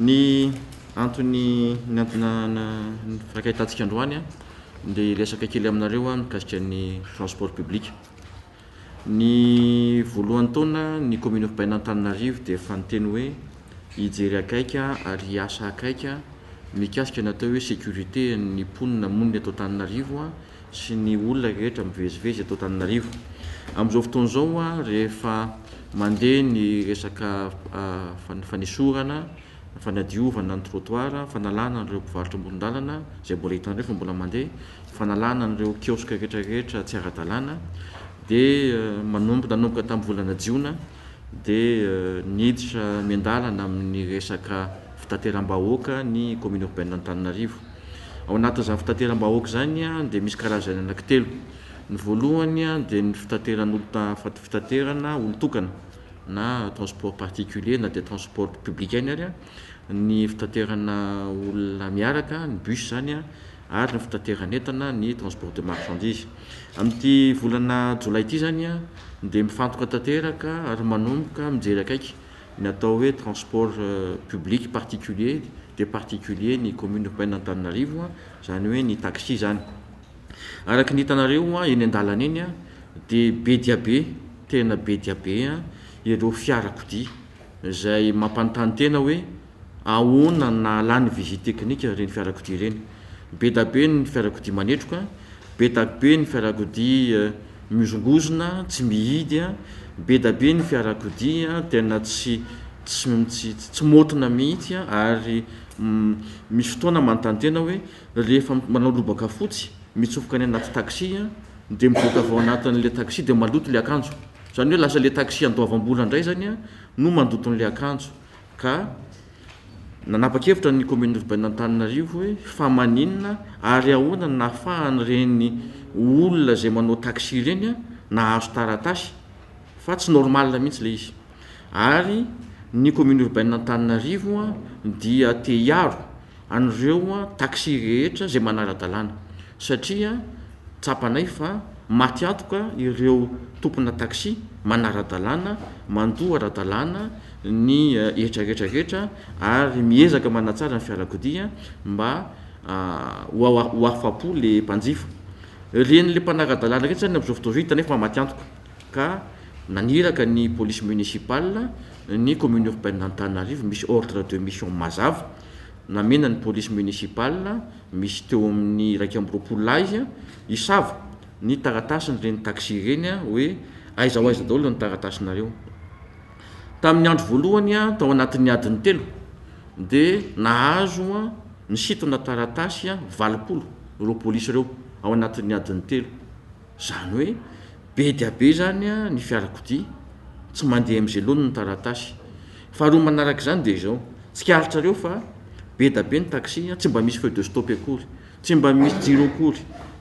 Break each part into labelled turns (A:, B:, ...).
A: Ny antony niantonana ny fankahitantsika androany dia hiresaka kely aminareo mikasika ny transport public. Ny voalohan'ny taona ny commune urbaine Antananarivo dia efa niteny hoe hijery akaiky ary hiasa akaiky mikasika ny atao hoe sécurité ny mponina monina eto Antananarivo sy ny olona rehetra mivezivezy eto Antananarivo. Amin'izao fotoana izao rehefa mandeha ny resaka fanesorana, fanadiovana ny trottoir, fanalana an'ireo mpivarotra amoron-dalana izay mbola hitanareo fa mbola mandeha, fanalana an'ireo kiosque rehetra rehetra tsy ara-dalàna dia manomboka nanomboka tamin'ny volana jiona dia niditra miandalana amin'ny resaka fitateram-bahoaka ny commune urbaine Antananarivo. Ao anatin'izany fitateram-bahoaka izany dia misy karazany anankitelo. Ny voalohany dia ny fitateran'olona fitaterana olon-tokana na transport particulier na dia transport public ihany ary ny fitaterana olona miaraka ny bus izany. ary ny fitateran'entana, ny transport de marchandises. Amin'ity volana jolay ity izany dia mifantoka tanteraka ary manomboka mijery akaiky ny atao hoe transport public particulier dia particulier ny commune urbaine Antananarivo, izany hoe ny taxi izany. Araka ny hitanareo eny an-dalana eny dia be dia be, tena be dia be ireo fiarakodia izay mampanontany tena hoe ahoana ny nahalany visite technique ireny fiarakodia ireny? Bedabe ny fiarakodia manetroka, bedabe ny fiarakodia mihozongozona, tsy mihidy, bedabe ny fiarakodia tena tsy tsy tsy motina mihitsy ary misy fotoana manontany tena aho hoe rehefa manao lobaka fotsy mitsofoka any anaty taxi dia mivoaka avy ao anatin'ilay taxi dia maloto ilay akanjo, izany hoe lasa ilay taxi andoavam-bola indray izany no mandoto an'ilay akanjo. Ka nanapa-kevitra ny Kaominina Urbain'Antananarivo hoe fa maninona ary ahoana no nahafahan'ireny olona izay manao taxi ireny nahazo taratasy fa tsy normal mihitsy ilay izy. Ary ny Kaominina Urbain'Antananarivo dia te hiaro. an'ireo taxi rehetra izay manara-dalàna satria tsapanay fa maty antoka ireo tompona taxi manara-dalàna mandoa ara-dalàna ny hetra rehetra rehetra ary miezaka manatsara ny fiarakodia mba ho afa-po ilay mpanjifa. Ren'ilay mpanara-dalàna ireny izany amin'izao fotoana izao hitanay fa maty antoka. ka naniraka ny Police Municipale ny Commune Urbaine Antananarivo misy Ordre de Mission mazava namena ny Police Municipale misy teo amin'ny iraika amby roapolo lahy hisava ny taratasin'ireny taxi ireny hoe aiza ho aiza daholo ny taratasinareo. Tamin'ny andro voalohany tao anatin'ny adiny telo dia nahazo nisintona taratasy valopolo ireo Police ireo ao anatin'ny adiny telo. Izany hoe be dia be izany ny fiarakodia tsy mandeha amin'izay laoniny ny taratasy. Faharoa manaraka izany dia izao, tsikaritrareo fa be dia be ny taxi, tsy mba misy feu de stop akory, tsy mba misy jiro akory,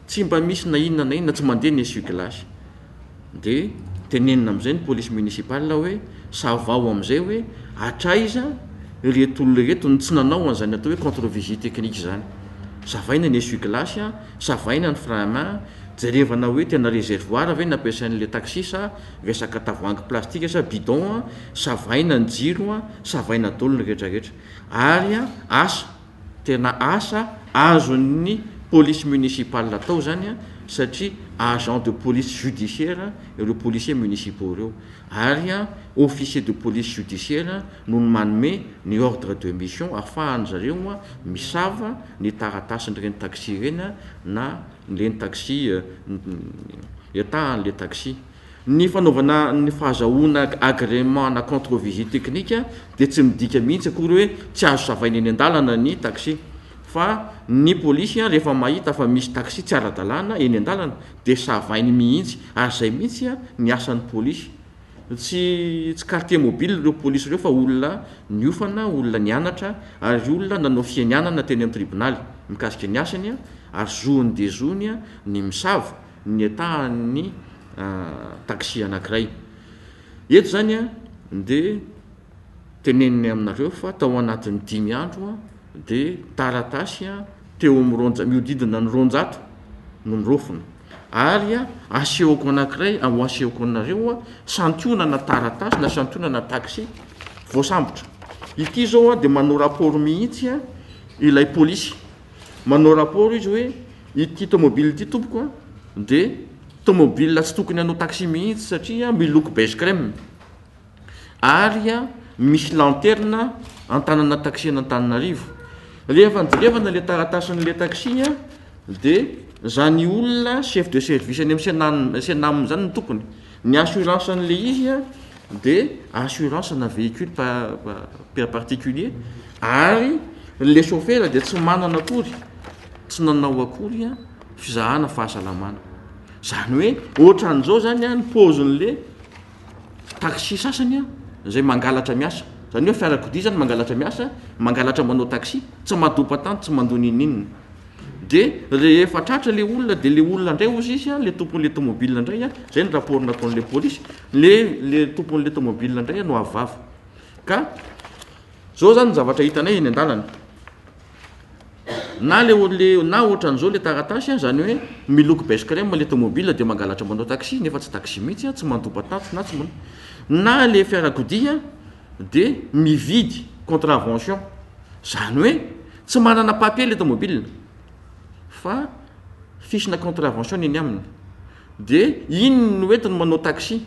A: tsy mba misy na inona na inona, tsy mandeha ny essuie-glace. Dia tenenina amin'izay ny police municipale hoe savaho amin'izay hoe hatraiza ireto olona ireto no tsy nanao an'izany atao hoe contre-vigie technique izany. Savaina ny essuie-glace Savaina ny frana, jerevana hoe tena reservoir ve ny ampiasain'ilay taxi sa vesaka tavoahangy plastika sa bidon a, savaina ny jiro a, savaina dolo ny rehetra rehetra. Ary a, asa, tena asa azon'ny police municipale atao zany a, satria agent de police judiciaire ireo policiers municipaux ireo. ary officier de police judiciaire no manome ny ordre de mission afahan-dry zareo misava ny taratasin'ireny taxi ireny na ireny taxi entahan'ilay taxi. Ny fanaovana ny fahazahoana agrément na contre visite technique dia tsy midika mihitsy akory hoe tsy azo savaina eny an-dalana ny taxi fa ny polisy rehefa mahita fa misy taxi tsy ara-dalàna eny an-dalana Dia savainy mihitsy. Ary izay mihitsy ny asan'ny polisy. Tsy tsy quartier mobile ireo polisy ireo fa olona niofana, olona nianatra ary olona nanao fianianana teny amin'ny tribonaly mikasika ny asany ary zony dia zony ny misava ny etahan'ny taxi anankiray. Eto izany dia. Teneniny aminareo fa tao anatin'ny dimy andro dia taratasy teo amin'ny roanja-, mihodidina ny roanjato no niraofina. Ary asehoko anankiray, ho asehoko anareo, santionana taratasy na santionana taxi voasambotra. Ity izao dia manao rapport mihitsy ilay polisy. Manao rapport izy hoe ity tomobile ity tompoko dia tomobile tsy tokony hanao taxi mihitsy satria miloko beige crème. ary misy lanterna an-tanana taxi an'Antananarivo. Rehefa nijerevana ilay taratasin'ilay taxi dia izany olona chef de service any amin'ny Cenam izany no tompony. Ny assurance an'ilay izy dia assurance ana véhicule par particulier ary ilay chauffeur dia tsy manana akory, tsy nanao akory fizahana fahasalamana. Izany hoe ohatran'izao izany ny paozin'ilay taxi sasany an, izay mangalatra miasa, izany hoe fiarakodia izany mangalatra miasa, mangalatra manao taxi, tsy madopa-tany, tsy mandoa n'inon'inona. Dia rehefa tratra ilay olona, dia ilay olona indray hozy izy, ilay tompon'ilay tomobile indray, izay ny rapport nataon'ilay polisy, ilay ilay tompon'ilay tomobile indray no avo vava. Ka izao izany ny zavatra hitanay eny an-dalana. Na le le na ohatran'izao le taratasy a, zany hoe miloko beige crème le tomobile de mangalatra manao taxi nefa tsy taxi mihitsy a, tsy mandoba tatso na tsy manao, na le fiarakodia de mividy contravention, zany hoe tsy manana papier le tomobile fa fiche-na contravention ny eny aminy, de iny no entiny manao taxi.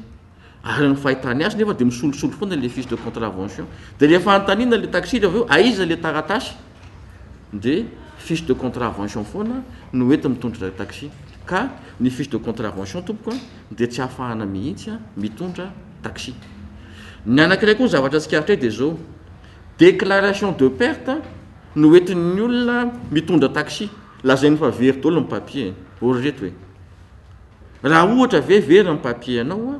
A: Araka ny fahitany azy nefa dia misolosolo foana ilay fiche de contravention. Dia rehefa anontaniana ilay taxi-ra avy eo aiza ilay taratasy dia fiche de contravention foana no entiny mitondra taxi. Ka ny fiche de contravention tompoko an dia tsy ahafahana mihitsy an mitondra taxi. Ny anankiray koa ny zavatra tsikaritray dia izao, déclaration de perte no entin'ny olona mitondra taxi. Lazainy fa very daholo ny papier e. Ory reto e. Raha ohatra ve very ny papier anao a?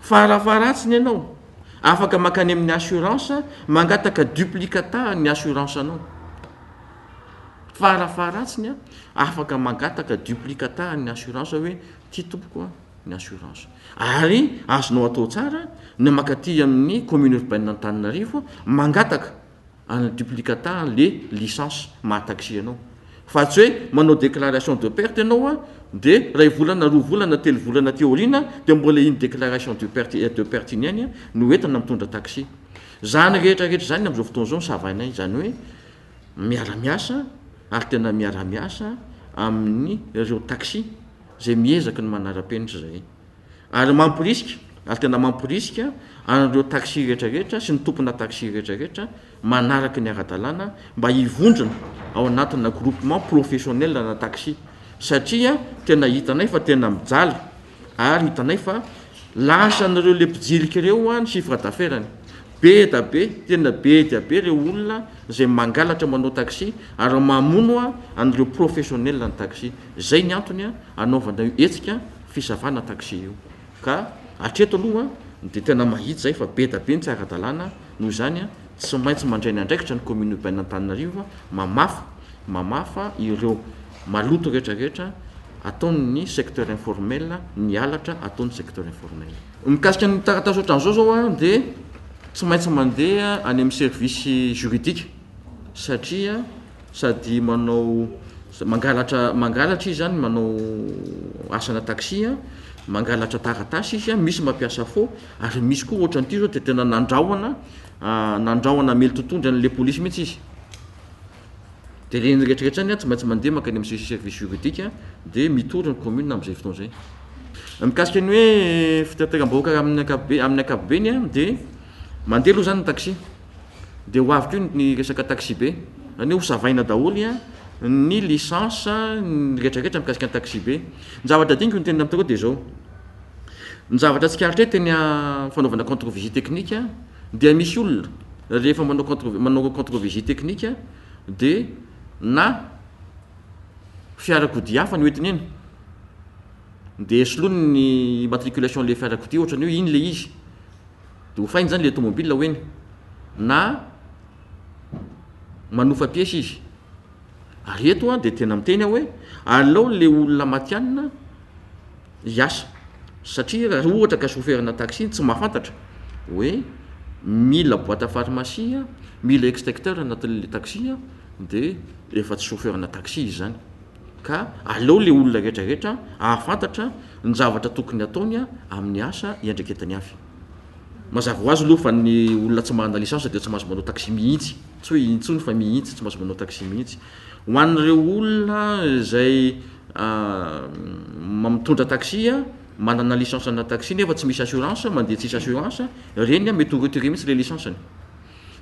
A: Farafaharatsiny ianao afaka mankany amin'ny assurance mangataka duplicata an'ny assurance anao. Farafaharatsiny a, afaka mangataka duplicata an'ny assurance hoe ity tompoko a ny assurance. Ary azonao atao tsara ny mankaty amin'ny commune urbaine Antananarivo mangataka. Ana duplicata le licence maha taxi anao fa tsy hoe manao declaration de perte ianao a de ray volana roa volana telo volana aty aoriana de mbola iny declaration du perte et de perte iny ihany a no entina mitondra taxi zany rehetra rehetra zany amzao fotoana zao no savainay zany hoe miara miasa ary tena miara miasa amin'ny reo taxi zay miezaka ny manara penitra zay Ary mamporisika, ary tena mamporisika, an'ireo taxi rehetra rehetra sy ny tompona taxi rehetra rehetra manaraka ny ara-dalàna mba hivondrona ao anatina groupement professionnel ana taxi satria tena hitanay fa tena mijaly ary hitanay fa lasan'ireo le mpijilika ireo a ny chiffre d'affaires-ny be da be tena be dia be ireo olona izay mangalatra manao taxi ary mamono a an'ireo professionnel ny taxi zay ny antony a anaovana io hetsika fisavana taxi io ka hatreto aloha dia tena mahitsy zay fa be da be ny tsy ara-dalàna noho izany tsy maintsy mandray ny andraikitra ny commune urbaine Antananarivo mamafa mamafa ireo maloto rehetra rehetra ataon'ny secteur informel ny halatra ataon'ny secteur informel. Mikasika ny taratasy ohatran'izao zao dia tsy maintsy mandeha any amin'ny service juridique satria. sady manao mangalatra mangalatra izy zany manao asana taxi a, mangalatra taratasy izy a, misy mampiasa faux ary misy koa ohatran'ity zao de tena nandrahona nandrahona hamely totohondry an'le polisy mihitsy izy, de reny rehetra rehetra zany a tsy maintsy mandeha mankany amin'ny sesi- service juridique de mitory ny commune am'zay fotoana zay. Mikasika ny hoe fitateram-bahoaka amin'ny ankapobe- amin'ny ankapobeny a de mandeha aloha zany ny taxi. Dia ho avy koa ny resaka taxibe. Izany hoe ho savaina daholo ny licence, ny retraretra mikasika ny taxibe. Ny zavatra adinoko ny tenenina aminareo dia izao, ny zavatra tsikaritra eto eny amin'ny fanaovana contre vigie technique dia misy olona rehefa manao contre- manao contre vigie technique dia na fiarakodia hafa no entiny eny, dia soloiny ny immatriculation ilay fiarakodia ohatra ny hoe iny ilay izy. Dia hofainy izany ilay tômôbila ho eny, na manofa piesy izy. Ary eto dia tena miteny aho hoe alao ilay olona matihanina hiasa, satria raha ohatra ka soferina taxi tsy mahafantatra hoe mila boite à pharmacie, mila extincteur anatin'ilay taxi dia efa tsy soferina taxi izy izany. Ka alao ilay olona rehetrarehetra hahafantatra ny zavatra tokony hataony amin'ny asa iandraiketany avy. Mazava ho azy aloha fa ny olona tsy manana licence dia tsy mahazo manao taxi mihitsy, tsy hoe intsony fa mihitsy, tsy mahazo manao taxi mihitsy. Ho an'ireo olona izay mitondra taxi, manana licence ana taxi nefa tsy misy assurance, mandeha tsisy assurance, ireny mety ho retirer mihitsy le licence-ny.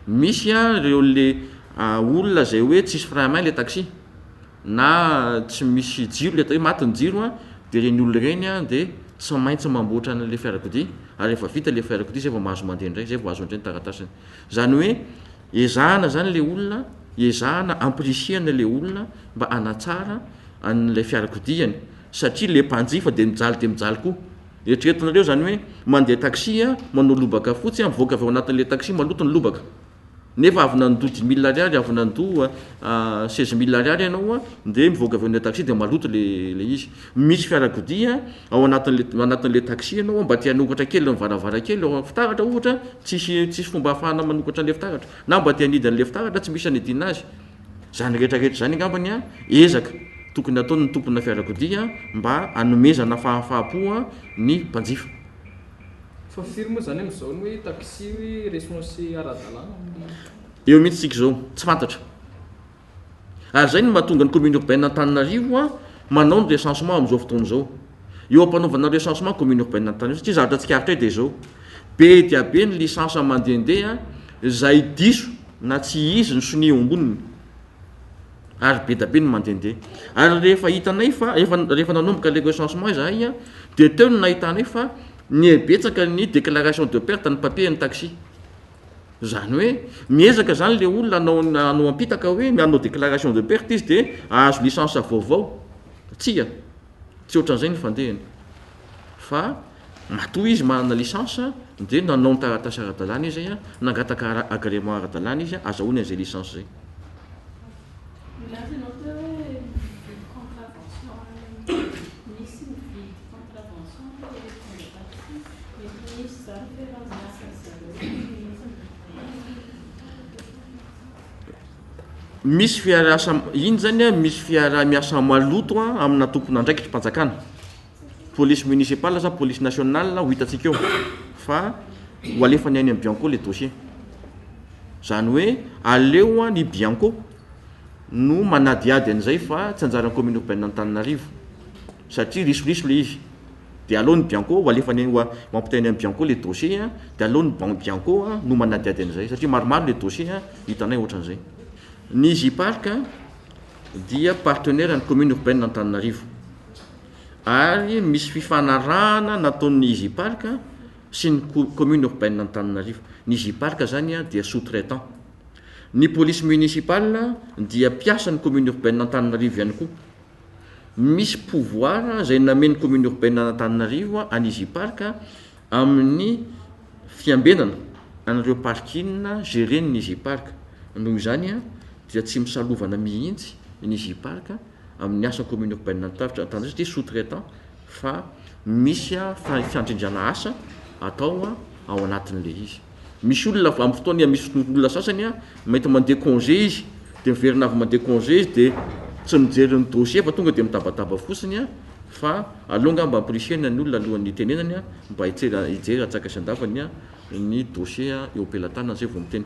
A: Misy ireo le olona izay hoe tsisy frein à main le taxi, na tsy misy jiro ilay atao hoe maty ny jiro dia ireny olona ireny dia tsy maintsy mamboatra an'ilay fiarakodia ary rehefa vita ilay fiarakodia izay vao mahazo mandeha indray, izay vao azo indray ny taratasiny. Izany hoe ezahana izany ilay olona, ezahana ampirisihana ilay olona mba hanatsara an'ilay fiarakodiany satria ilay mpanjifa dia mijaly dia mijaly koa. Eritreretinareo izany hoe mandeha taxi, manao lobaka fotsy, mivoaka avy ao anatin'ilay taxi maloto ny lobaka. nefa avy nandoa dimy mille ariary avy nandoa seize mille ariary ianao a dia mivoaka avy eo taxi dia maloto le le izy misy fiarakodia ao anatin'le anatin'le taxi ianao mba te hanokatra kely ny varavarankely ao amin'ny fitaratra ohatra tsisy tsisy fomba hahafahana manokatra an'le fitaratra na mba te hanidy an'le fitaratra tsy misy hanidina azy zany rehetra rehetra zany angambany a ezaka tokony ataon'ny tompona fiarakodia mba hanomezana fahafaha-po ny mpanjifa
B: Fa firy moa zany amizao ny hoe taxi hoe resonse ara-dalàna amin'ny. Eo
A: mihitsy tsika zao, tsy fantatra. Ary zay no mahatonga ny commune urbaine Antananarivo a manao ny recensement amizao fotoana zao. Eo ampanaovana ny recensement commune urbaine Antananarivo satria zavatra tsikaritra eto dia zao, be dia be ny licence mandehandeha zay diso na tsy izy ny sonia eo amboniny. ary be dia be ny mandehandeha ary rehefa hitanay fa efa rehefa nanomboka ilay recensement izahay an, dia teo no nahitanay fa nihabetsaka ny déclaration de perte ny papier an'ny taxi, izany hoe miezaka izany ilay olona hanao ny hanao am-pitaka hoe hanao déclaration de perte izy dia hahazo licence vaovao, tsia, tsy ohatran'izay ny fandehany fa. Matoa izy manana licence dia nanao ny taratasy ara-dalàna izy, nangataka agrément ara-dalàna izy, azahoany an'izay licence izay. Milaza ianao teo hoe mividy contravention any, misy mividy contravention any le mpitondra taxi, mety misy izany fa efa miasa ry zareo mihintsy ny fitondrana. Misy fiaraha, iny izany misy fiaraha-miasa maloto amina tompon'andraikitrim-panjakana. police municipale sa police nationale ho hitantsika eo fa ho alefany any amin'ny bianco le dossier zany hoe aleo an ny bianco no manadihady an'izay fa tsy anjaran'ny commune urbaine Antananarivo satria risoriso le izy dia aleo ny bianco ho alefany ho ampitainy amin'ny bianco le dossier an dia aleo ny ban- bianco no manadihady an'izay satria maromaro le dossier an hitanay ohatran'izay ny J-Parc dia partenaire an'ny commune urbaine Antananarivo ary misy fifanarahana nataon'ny Easy Park sy ny ko- commune urbaine Antananarivo. Ny Easy Park zany a, dia sous-traitant. Ny police municipale dia mpiasan'ny commune urbaine Antananarivo ihany koa. Misy pouvoir zay namen'ny commune urbaine Antananarivo an'i Easy Park amin'ny fiambenana an'ireo parking géren'ny Easy Park. Noho izany a, dia tsy misalovana mihitsy ny Easy Park. amin'ny asa commune urbaine Antaritra Antananarivo satria sous-traitant fa misy fiandrindrana asa atao ao anatin'ilay izy. Misy olona amin'ny fotoana iha misy olona sasany mety mandeha congé izy dia miverina avy mandeha congé izy dia tsy mijery ny dossier fa tonga dia mitabataba fotsiny fa aleo angamba ampirisihina ny olona alohan'ny hitenenany mba hijery atsaka sy andavany ny dossier eo am-pelatanany izay vao miteny.